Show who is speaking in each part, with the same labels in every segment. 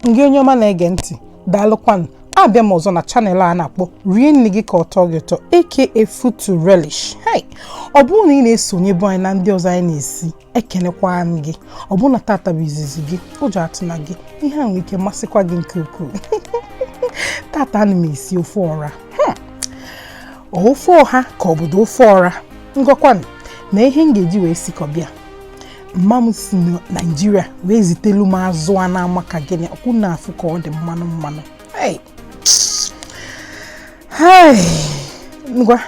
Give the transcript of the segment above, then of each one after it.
Speaker 1: ngị onye ọma na-ege ntị daalụkwanụ abịa m ọzọ na channel a na-akpọ rie nni gị ka ọ tọọ gị ụtọ aka food to relish hey ọ bụrụ na ị na-esonyebu anyị na ndị ọzọ anyị na-esi ekenekwa m gị ọ bụ na tata bụ izizi gị ụjọ atụna gị ihe a nwere ike masịkwa gị nke ukwuu tata ana m esi ofe ọra hmm. ofe ọha ka ọ bụdụ ofe ọra ngọkwanụ na ihe m ga-eji wee sikọba ya mma m si na naijiria wee zitelu m azụ a na-ama ka gịnị ọkwa unu na-afụ ka ọ dị mmanụ mmanụ ngwa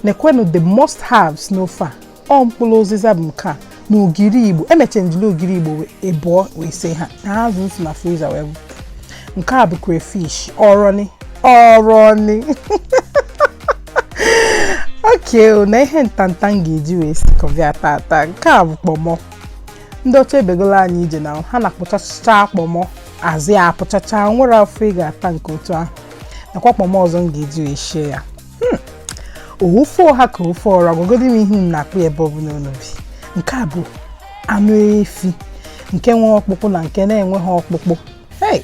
Speaker 1: nekwenụ the must haves n'ofe a ọ mkpụrụ ụzịza bụ nke a na ogiri igbo emecha m jili ogiri igbo ịbụọ wee sie ya na azụ m si na friza wee bute nke a bụ crayfish ọrọni ọrọni okay na ihe ntanta m ga-eji wee sikọba ya tata nke a bụ kpọmọ ndị ọcha ebegola anyị ije na ha na-akpụchacha kpọmọ azụ ya akpụchacha nwere afọ ị ga-ata nke otu ahụ nakwa kpọmọ ọzọ m ga-eji wee shie ya hmm. ofe ọha ka ofe ọra gwagodi m ihe unu na-akpọ ya ebe ọbụla unu bi nke a bụ anụ efi nke nwe ọkpụkpụ na nke na-enweghị ọkpụkpụ hei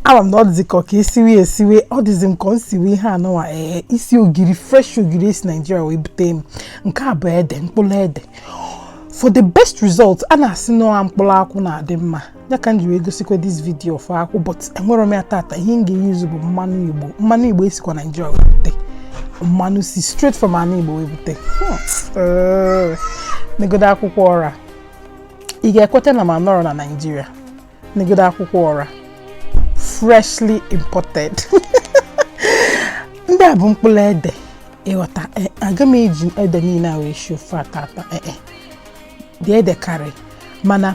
Speaker 1: ama m na ọ dịzi ka ọka isiwe esiwe ọ dịzi m ka m siwe ihe anụwa ee isi ogiri fresh ogiri e si naijiria wee bute m nke a bụ ede mkpụrụ ede for the best result a na-asị na mkpụrụ akwụ na-adị mma ya ka m ji wee gosikwa this video of akwụ but enwerọ m ya tata ihe m ga-eyuzu bụ mmanụ igbo mmanụ igbo e sikwa naijiria wee bute mmanụ si straight from ana igbo wee bute hmm. negodo akwụkwọ ọra ị ga-ekweta na m anọrọ na naijiria negodo akwụkwọ ọra freshly imported ndị a bụ mkpụrụ ede ị ghọta e, aga m eji ede niile a wee shie ofe a tata ee e, e. dị ede karị mana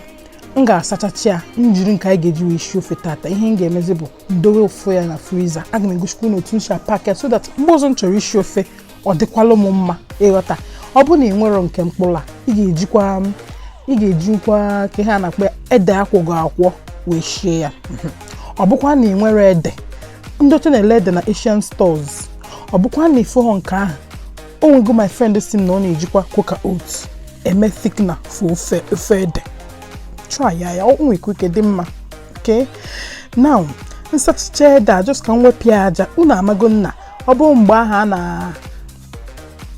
Speaker 1: m ga-asachacha ya m jiri nke anyị ga-eji wee shie ofe tata ihe m ga-emezi bụ m dowe ofe ya na friza aga m egosikwa unu otu m si apack ya so that mgbe ọzọ m chọrọ isi ofe ọ dịkwala m mma ị ghọta ọ bụrụ na ị nwerọ nke mkpụrụ a ị ga-ejikwa m ị ga-ejikwa ka ihe a na-akpọ ede a kwọgo akwọ wee shie ya ọ bụkwa na ị nwerọ ede ndị ọcha na-ele ede na Asian stores ọ bụkwa na ịfụghọ nke ahụ o nwego my friend si m na ọ na-ejikwa quaker oats eme thickener for ofe ofe ede try ya ya o nwere ike ike dị mma okay now m sachachaa ede a just ka m wepụ ya aja unu amago na ọ bụrụ mgbe ahụ a na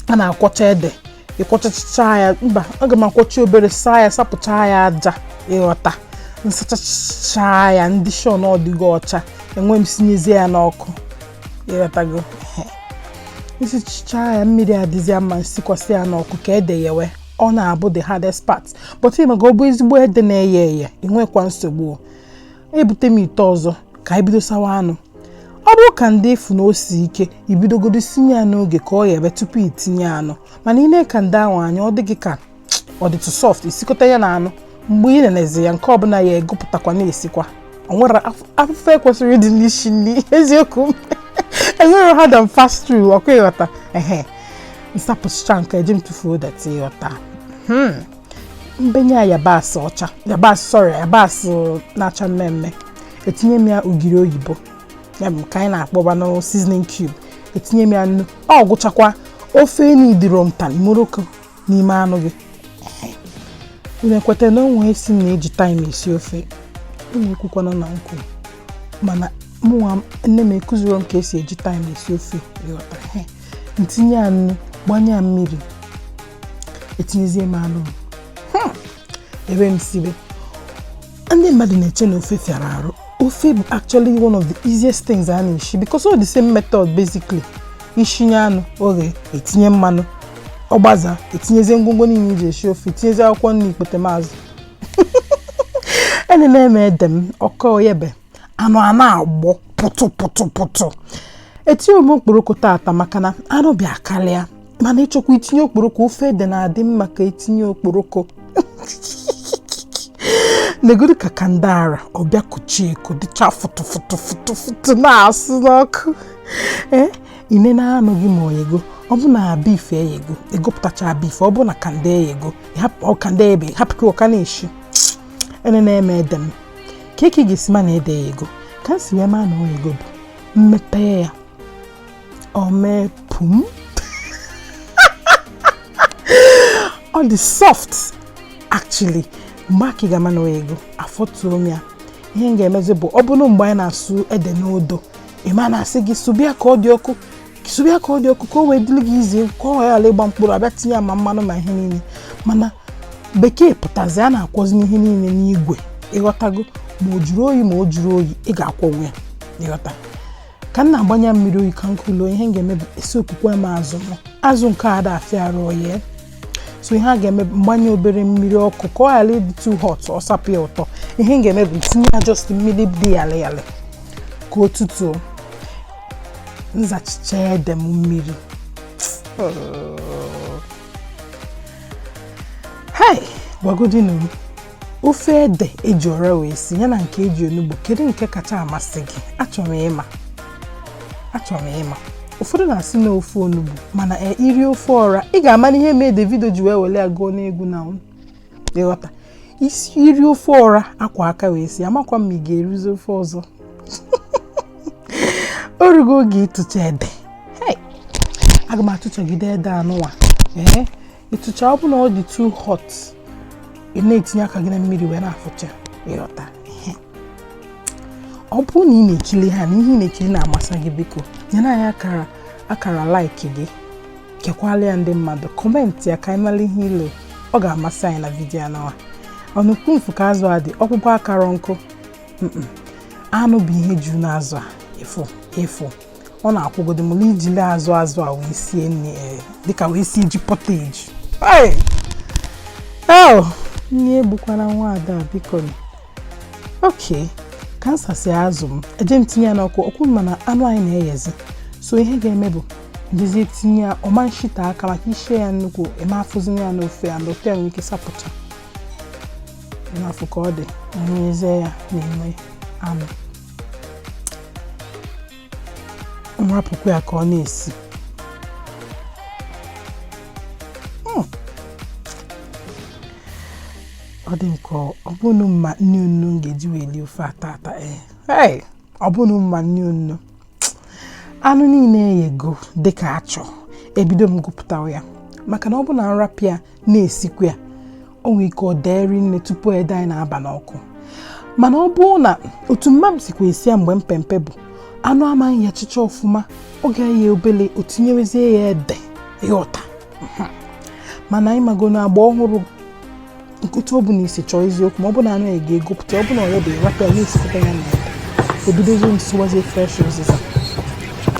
Speaker 1: a na-akwọcha ede ịkwọchacha ya mba aga m akwọcha obere saa ya sapụcha ya aja ịghọta m sachachaa ya m dị sure na ọ dịgo ọcha ewee m sinyezie ya n'ọkụ ịghọtago m sachachaa ya mmiri adịzie mma m sikwasị ya n'ọkụ ka ede yewe ọ na-abụ the hardest part but ịma ka ọ bụ ezigbo ede na-eye eye inwekwa nsogbu ebute m ite ọzọ ka anyị bido sawa anụ ọ bụrụ kanda ị fụ na o si ike i bidogodu sinye ya n'oge ka ọ ghebe tupu itinye anụ mana i nee kanda ahụ anya ọ dị gị ka ọ dịtụ soft i sikọta ya na anụ mgbe ị na-enezi ya nke ọbụla yee egụpụtakwa na-esikwa o nwerọ afụfụ kwesịrị ịdị n'isi nri eziokwu m enwerọ hard and fast rule ọkwa ịghọta ehe m sapụchaa nke eji m tụfuo dati ịghọta hmm. m benye ya yabasị ọcha yabasị sorry yabasị na-acha mmee mmee etinye m ya ogiri oyibo ya bụ ka anyị na-akpọba na seasoning cube etinye m ya nnu ọ gwụchakwa ofe enyi dịrọ mtan moroko n'ime anụ gị unu ekwetana onye sị na eji thyme esi ofe unu ekwukwana na m kwu mana mụnwa nne m akuzirọ m ka esi eji thyme esi ofe ịghọtara m tinye ya nnu gbanye ya mmiri etinyezie m anụ ebe m sibe ndị mmadụ na-eche na ofe fịara arụ ofe bụ actually one of the easiest things a na-eshi because all the same method basically i shinye anụ o ghee etinye mmanụ ọ gbazee etinyezie ngwongwo niile iji esi ofe tinyezie akwụkwọ nri ikpete maazụ enene m ede m ọ ka eyebe anụ a na-agbọ pụtụ pụtụ pụtụ etinye m okporoko tata maka na anụ bịa karịa mana ịchọkwa itinye okporoko ofe ede na-adị mma ka itinye okporoko negodu ka kanda ahụ bịa kochie eko dịcha fụtụ fụtụ fụtụ fụtụ na-asụ n'ọkụ ee i nene anụ gị ma o yego ọ bụ na beef eyego egupụtacha beef ọ bụ na kanda eyego kanda eyebe hapụkwa ọ ka na-eshi enene m ede m kee ka ị ga-esi ma na ede gị eyego ka m si wee maa na o yego bụ m mepee ya o mee pum ọ dị soft actually mgbe ahụ ka ị ga-ama na o yego afọtuo m ya ihe m ga-emezi bụ ọ bụrụ mgbe anyị na-asụ ede n'odo ịma na a sị gị sụba ya ka ọ dị ọkụ sụrụ ya ka ọ dị ọkụ ka o wee dịrị gị easy ka ọ ghara ịgba mkpụrụ a bịa tinye ya ma mmanụ ma ihe niile mana bekee pụtazi a na-akwọzi ihe niile n'igwe ị ghọtago ma o juru oyi ma o juru oyi ị ga-akwọnwu ya ị ghọta ka m na-agbanye mmiri oyi ka nkụlụ ihe m ga-eme bụ esi okwukwe m azụ m azụ nke a ada afịa arụ oyi so ihe a ga-eme m gbanye obere mmiri ọkụ ka ọ ghara ịdị too hot ọ sapụ ya ụtọ ihe m ga-eme bụ m tinye ya just mmiri dị yalị yalị ka o tutu m sachichaa ede m mmiri hei gwagodinu m ofe ede e ji ọra wee si ya na nke e ji onugbu kedu nke kacha amasị gị achọrọ m ịma achọrọ m ịma ụfọdụ na-asị na ofe onugbu mana e, i rie ofe ọra ị ga-ama ihe mee Davido ji wee wele ya gụọ n'egwu na ị ghọta ị sị i rie ofe ọra a kwọ aka wee sie amakwa m ma ị ga-erizi ofe ọzọ o rugo oge ịtụcha ede aga m atụchagide ede anụwa ee ịtụcha ọ bụ na ọ dị too hot ị na-etinye aka gị na mmiri wee na-afụcha ị ghọta ọ bụrụ na ị na-ekiri ha na ihe ị na-ekiri na-amasị gị biko nyere anyị akara like gị kekwala ya ndị mmadụ comment ya ka anyị mara ihe i lo ọ ga-amasị anyị na vidiyo anụwa ọnụkwu mfu ka azụ a dị ọkpụkpụ akara nkụ anụ bụ ihe juru n'azụ a efu efu ọ na-agụgodi m na ijili azụ azụ a wee sie nri eh, dịka wee sie ji pottage oh! nri egbukwana nwa ada biko okay ka m sasị azụ m eje m tinye ya n'ọkụ ọkụ mana anụ anyị na-eyezi so ihe ga-eme bụ m jezie tinye ya ọma nshita aka maka i sie ya nnukwu ị ma-afụzi ya n'ofe ya na ofe ya nwere ike sapụta na-afụ ka ọ dị na ya n'ime anụ m rapụkwa ya ka ọ na-esi hmm. ọ dịka ọ bụrụ mma nni onuno m ga-eji wee lie ofe a tata eh. ee ọ bụrụ mma nni onuno anụ niile eyego dịka a chọ ebido m gụpụtawa ya maka na ọ bụ na m rapụ ya na-esikwa ya o nwere ike o dee rinne tupu ede anyị na-aba n'ọkụ mana ọ bụ na otu mama m sikwa esi ya mgbe m pe mpe bụ anụ ama-eyechicha ọfụma ọ ga-eye obele o tinyewezie ya ede ị ghọta mhm. mana anyị mago na agba ọhụrụ ị ghọta ọ bụ na isi chọọ eziokwu ma ọ bụ na anụ ya ga-egopụta ọ bụ na ọ ya bụ a rapụ ya na-esikọta ya na ede ebidozi m sụwazie fresh ụzịza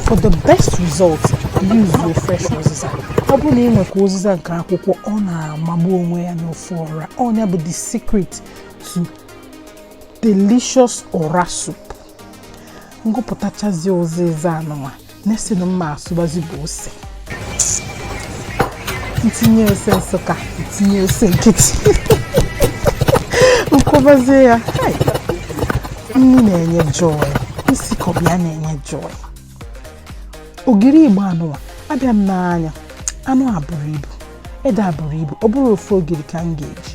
Speaker 1: For the best result, use fresh uziza. Ọ bụrụ na ị nwekwa ụzịza nke akwụkwọ ọ na-amagbu onwe ya n'ofe ọra ọ nya bụ the secret to delicious ọra soup. M gụpụtachazie ụzịza a nụnwa next na m ma-asụbazi bụ ose. m tinye ose Nsụka m tinye ose nkịtị m kwọbazie ya nri na-enye joy isi kọbụ ya na-enye joy ogiri igbo a nụwa abịa m n'anya anụ a buru ibu ede a buru ibu ọ bụrọ ofu ogiri ka m ga-eji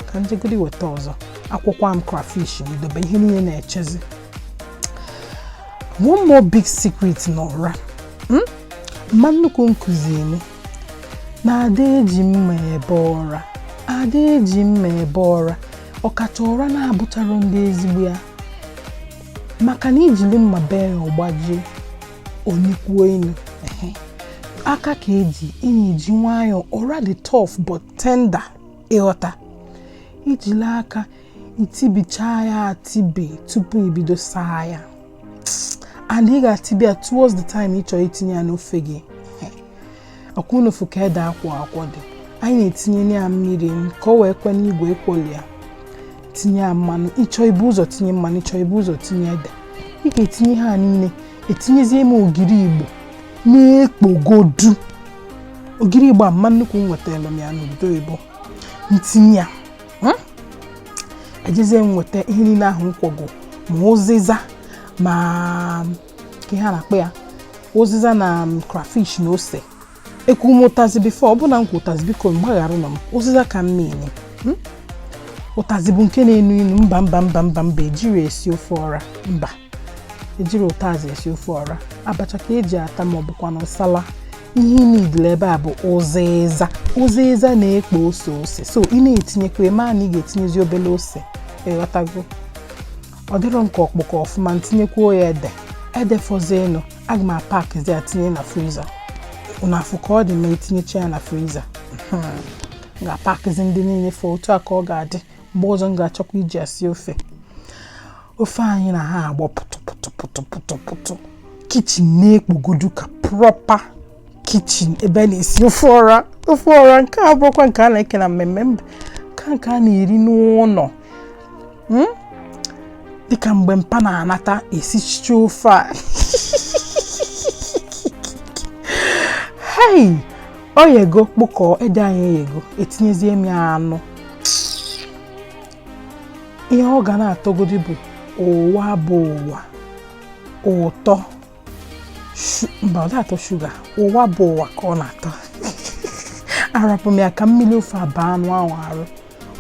Speaker 1: ka m jegodi weta ọzọ akwọkwa m krafish m dobe ihe niile na-echezi one more big secret n'ọra hmm? mma nnukwu m kụziri m na a da eji mma ebe ọra a da eji mma ebe ọra ọkacha ọra na-abụcharọ ndị ezigbo ya maka na i jiri mma bee ya ọ gbajie o nukwuo inu aka ka e ji ị na-eji nwayọọ ọra dị tough but tender ị ghọta i jili aka i tibichaa ya atibe tupu i bido saa ya and ị ga-atibe ya towards the time ị chọrọ itinye ya n'ofe gị ọkwa ụnụ fụ ka ede akwọ akwọ dị anyị na-etinye ya mmiri ka o wee kwe n'igwe akwọli ya tinye ya mmanụ ị chọọ ibu ụzọ tinye mmanụ ị chọọ ibu ụzọ tinye ede ị ga-etinye ha niile etinyezie m ogiri igbo na-ekpogodu ogiri igbo a mma nnukwu m wetara m ya n'obodo oyibo m tinye ya hmm? ejezie m weta ihe niile ahụ m kwọgo ma ụzịza ma kee ihe a na-akpọ ya ụzịza na um, krafish na ose ekwu m ụtazi bifo ọ bụ na m kwu ụtazi biko gbagharanụ m ụzịza ka m mean hmm? ụtazi bụ nke na-enu inu mba mba mba mba mba ejirọ esi ofe ọra mba ejirọ ụtazị esi ofe ọra abacha ka e ji ata ma ọ bụkwanụ nsala ihe ị na-edile ebe a bụ ụzịza ụzịza na-ekpo ose ose so ị na-etinyekwa ị ma na ị ga-etinyezi obele ose ị ghọtago ọ dịrọ m ka ọ kpụkọ ọfụma m tinyekwuo ya ede ede fọzienụ aga m apakzi ya tinye na friza ụnụ afụ ka ọ dị ma etinyecha ya na friza hmm. ga-apakzi ndị niile fọ otu a ka ọ ga-adị mgbe ọzọ m ga-achọkwa iji ya sie ofe ofe anyị na-agbọ pụtụpụtụpụtụpụtụ kichin na-ekpogodu ka prọpa kichin ebe a na-esi ofe ọra ofe ọra nke a abụrọkwa nke a na-eke na mmemme mba ka nke a na-eri n'ụlọ hmm? dịka mgbe mpa na-anata esichicha ofe a hei o yego kpụkọọ ede anyị eyego etinyezie m ya anụ ihe ọ ga na-atọgodi bụ ụwa bụ ụwa ụtọ mba ọ na-atọ shuga ụwa bụ ụwa ka ọ na-atọ arapụ m ya ka mmiri ofe a baa anụ ahụ arụ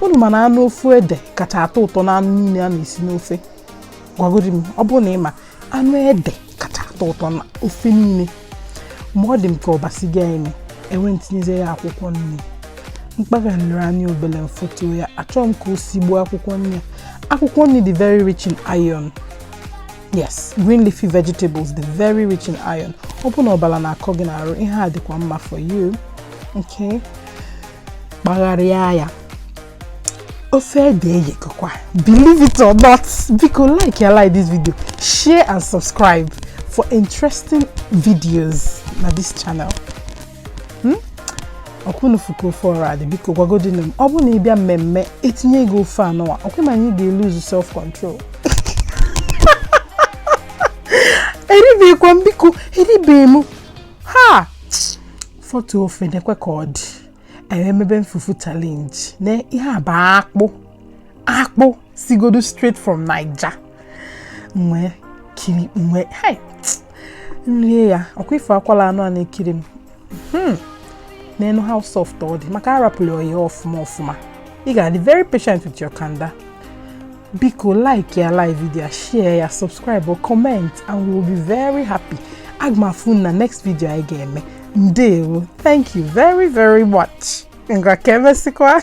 Speaker 1: unu ma na anụ ofe ede kacha atọ ụtọ na anụ niile a na-esi n'ofe gwagodi m ọ bụrụ na ị ma anụ ede kacha atọ ụtọ na ofe niile ma ọ dị m ka ọ basịgo ime ewee m tinyezie ya akwụkwọ nri m kpaghalịa ya obele m fotu ya achọrọ m ka o sigbuo akwụkwọ nri akwụkwọ nri dị very rich in iron yes green leafy vegetables dị very rich in iron ọ bụ na ọbara na-akọ gị n'arụ ihe a dịkwa mma for you okay kpagharịa ya ofe ede eyekọkwa believe it or not biko like ya like this video share and subscribe for interesting videos na this channel hmm? ọkwa unu fụ ka ofe ahụ dị biko gwagodinu m ọ bụrụ na ị bịa mmemme etinye gị ofe anụwa ọkwa ma na ị ga-lose self control eribekwa m biko eribe m ha foto ofe nekwa ka ọ dị anyị emebe fufu challenge na ihe a bụ akpụ akpụ sigodu straight from naija nwee kiri nwee hai nrie ya ọkwa ị fụ akwala anụ a na-ekiri m hmm. neenu how soft ọ dị maka arapụrụ ya ọfụma ọfụma ị ga-adị very patient with your kanda biko like ya like video share ya subscribe or comment and we will be very happy aga m afụ unu na next video anyị ga-eme ndewo thank you very very much ngwa ka emesịkwa